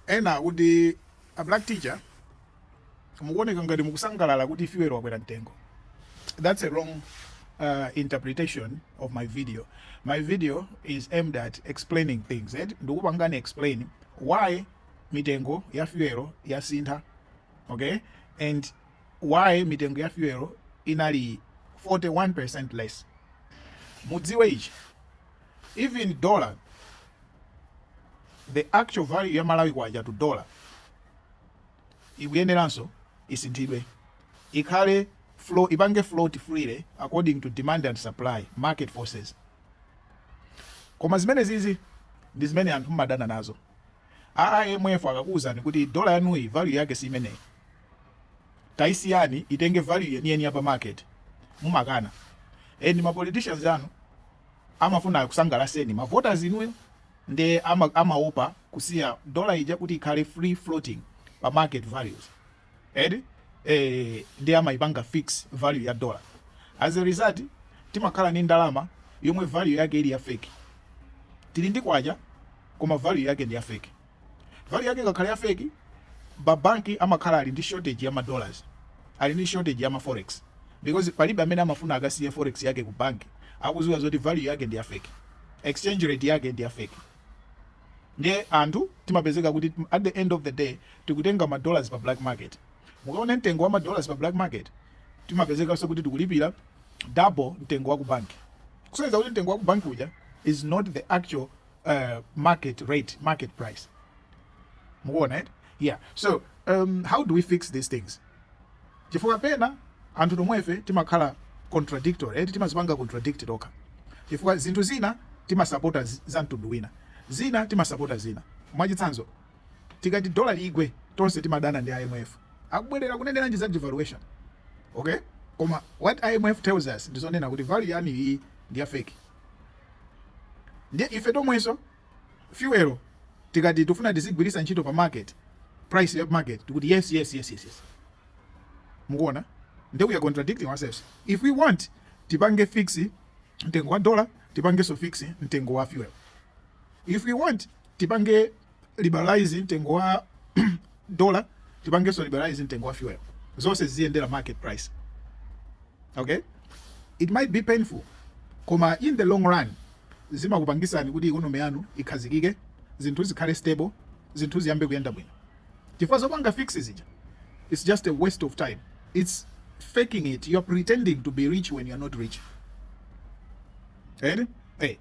Ena akuti, A Black Teacher, mukuoneka ngati mukusangalala kuti fuel wakwera mtengo. That's a wrong uh, interpretation of my video. My video is aimed at explaining things. Eh? Ndikupangani explain why mitengo ya fuel yasintha. Okay? And why mitengo ya fuel inali 41% less. Mudziwe ichi. Even dollar the actual value ya Malawi kwacha to dollar ikuyeneranso isinthidwe ikhale flow ipange float freely according to demand and supply market forces koma zimene zizi ndi zimene anthu mmadana nazo IMF akakuwuzani kuti dola yanuyi value yake si imeneyi taisiyani itenge value yeniyeni ya pa market mumakana and ma politicians anu Amafuna akusangalaseni ma voters inuyo nde amaopa kusiya dollar ija kuti ikhale free floating pa market values eti ee nde amaipanga fix value ya dollar as a result timakhala ndi ndalama yomwe value yake ili ya fake tili ndi kwacha koma value yake ndi ya fake. value yake ikakhala ya fake ma bank amakhala ali ndi shortage ya ma dollars ali ndi shortage ya ma forex because palibe amene amafuna akasiye forex yake ku bank akuziwa zoti value yake ndi ya fake exchange rate yake ndi ya fake ndiye anthu timapezeka kuti at the end of the day tikutenga ma dollars pa black market mukaona mtengo wa ma dollars pa black market timapezekanso kuti tikulipira double mtengo wa ku bank kusonyeza kuti mtengo wa ku bank uja is not the actual uh, market rate, market price. Mukuona eti? Yeah. So, um, how do we fix these things? Chifukwa pena anthu tomwefe timakhala contradictory, eti eh? timazipanga contradict tokha. Chifukwa zinthu zina timasapota za mtundu wina. Zina timasapota zina. Mwachitsanzo, tikati dola igwe tonse timadana ndi IMF. Akubwereranji kuneneranji za devaluation. Okay? Koma what IMF tells us ndizonena kuti value yanuyi ndi ya fake. ndiye ife tomwenso fuel tikati tifuna tizigwiritsa ntchito pa market price ya market tikuti yes yes yes yes, yes. mukuona ndiye we are contradicting ourselves if we want tipange fix mtengo wa dollar tipangenso fix mtengo wa fuel if we want tipange liberalize mtengo wa dollar tipangenso liberalize mtengo wa fuel zonse ziziyendera market price okay it might be painful koma in the long run zimakupangisani kuti ikonomi yanu ikhazikike zinthu zikhale stable zinthu ziyambe kuyenda bwino chifukwa zopanga fix zija it's just a waste of time it's faking it you're pretending to be rich when you're not rich Eti? Ee.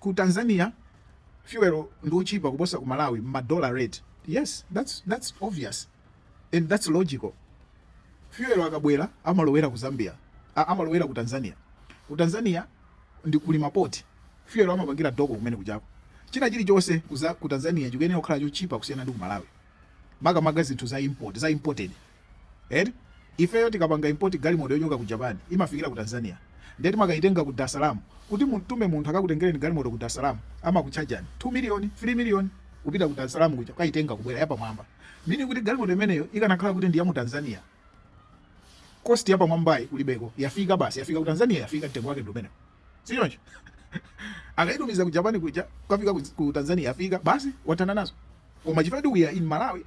Ku Tanzania fuel ndi otchipa kuposa ku Malawi mma dollar rate yes that's that's obvious and that's logical fuel akabwera amalowera ku Zambia ah, amalowera ku Tanzania ku Tanzania ndi kuli ma port fuel amapangira dock kumene kujako china chilichonse ku Tanzania chikuyenera kukhala chotchipa kusiyana ndi ku Malawi makamaka zinthu za import za imported eti ifeyo tikapanga import galimoto yochoka ku Japan imafikira ku Tanzania nde timakaitenga ku Darsalaam kuti mumtume munthu akakutengereni galimoto ku Darsalaam amakutchajani 2 million 3 million kupita ku Darsalaam kuja kukaitenga kubwera yapamwamba meaning kuti galimoto imeneyo ikanakhala kuti ndi ya mu Tanzania cost yapamwambayi kulibeko yafika basi yafika ku Tanzania yafika mtengo wake ndi umene sichoncho akaitumiza ku Japan kuja kukafika ku Tanzania yafika basi wathana nazo koma chifukwa we are in Malawi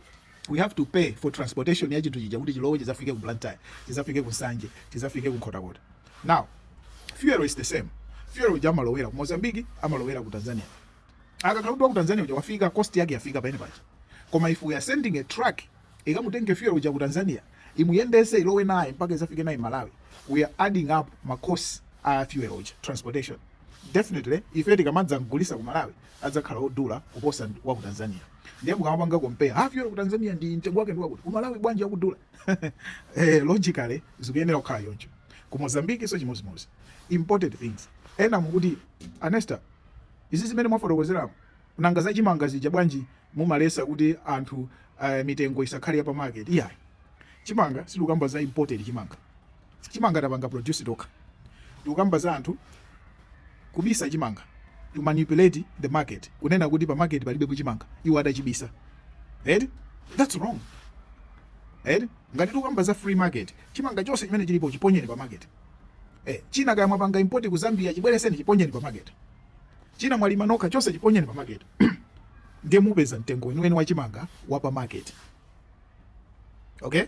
we have to pay for transportation ya chinthu chija kuti chilowe chizafike ku Blantyre chizafike ku Nsanje chizafike ku Nkhotakota now fuel is the same fuel uja amalowera ku Mozambique amalowera ku Tanzania akakhala kuti wa ku Tanzania uja wafika cost yake yafika pamene paja koma if we are sending a truck ikamutenge fuel uja ku Tanzania imuyendese ilowe naye mpaka izafike naye Malawi we are adding up ma cost a fuel uja transportation definitely ife tikamadza kugulitsa ku Malawi adzakhala odula kuposa wa ku Tanzania ndiye mukamapanga compare ah fuel ku Tanzania ndi mtengo wake ndi wakuti ku Malawi bwanji akudula eh logically zikuyenera kukhala choncho ku Mozambique so chimozimozi imported things ena mukuti Anesta izi zimene mwafotokozerazo nanga za chimanga zija bwanji mumaletsa kuti anthu uh, mitengo isakhale ya pa market iyayi chimanga sitikukamba za imported chimanga Chimanga tapanga produce tokha. Tikukamba za anthu kubisa chimanga to manipulate the market. Kunena kuti pa market palibepo chimanga iwo atachibisa. Eti? That's wrong. Eti? Ngati tikukamba za free market, chimanga chonse chimene chilipo chiponyeni pa market. Eh, china kaya mwapanga import ku Zambia chibweretseni chiponyeni pa market. China mwalima nokha chonse chiponyeni pa market. Ndiye mupeza mtengo weniweni wa chimanga wa pa market. okay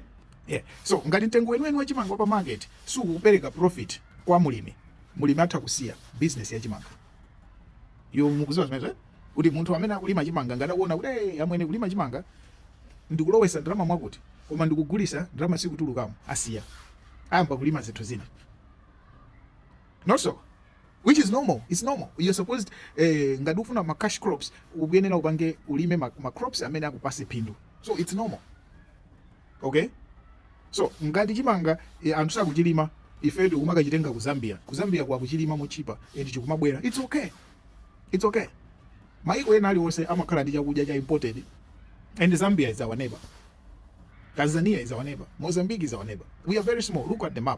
yeah. so ngati mtengo weniweni wa chimanga pa market sukupereka profit kwa mulimi mulimi atha kusiya business ya chimangayo mukudziwa zimenezo eh? kuti munthu amene akulima chimanga ngati akuona kuti hey, eh, amwene kulima chimanga ndikulowesa ndalama mwakuti koma ndikugulitsa ndalama sikutulukamo asiya ayamba kulima zinthu zina not so which is normal it's normal you're supposed eh, ngati ufuna ma cash crops ukuyenera upange ulime ma, ma crops amene akupatse phindu so it's normal okay so ngati chimanga eh, anthu sakuchilima ife tikumakachitenga ku zambia ku zambia ko akuchilima motchipa and chikumabwera it's okay it's okay maiko ena aliwonse amakhala ndi chakudya cha imported and zambia is our neighbor tanzania is our neighbor mozambique is our neighbor we are very small look at the map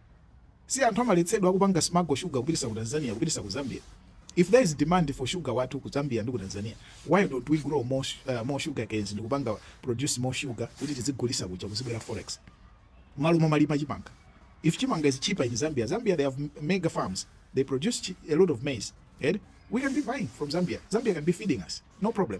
Si anthu amaletsedwa kupanga smuggle sugar kupitisa ku Tanzania kupitisa ku Zambia? If there is demand for sugar wathu ku Zambia ndi ku Tanzania why don't we grow more more sugarcanes ndikupanga produce more sugar kuti tizigulisa kuja kuzibwera forex mmalo momalima chimanga? If chimanga is cheaper in Zambia, Zambia they have mega farms they produce a lot of maize eti we can be buying from Zambia, Zambia can be feeding us no problem.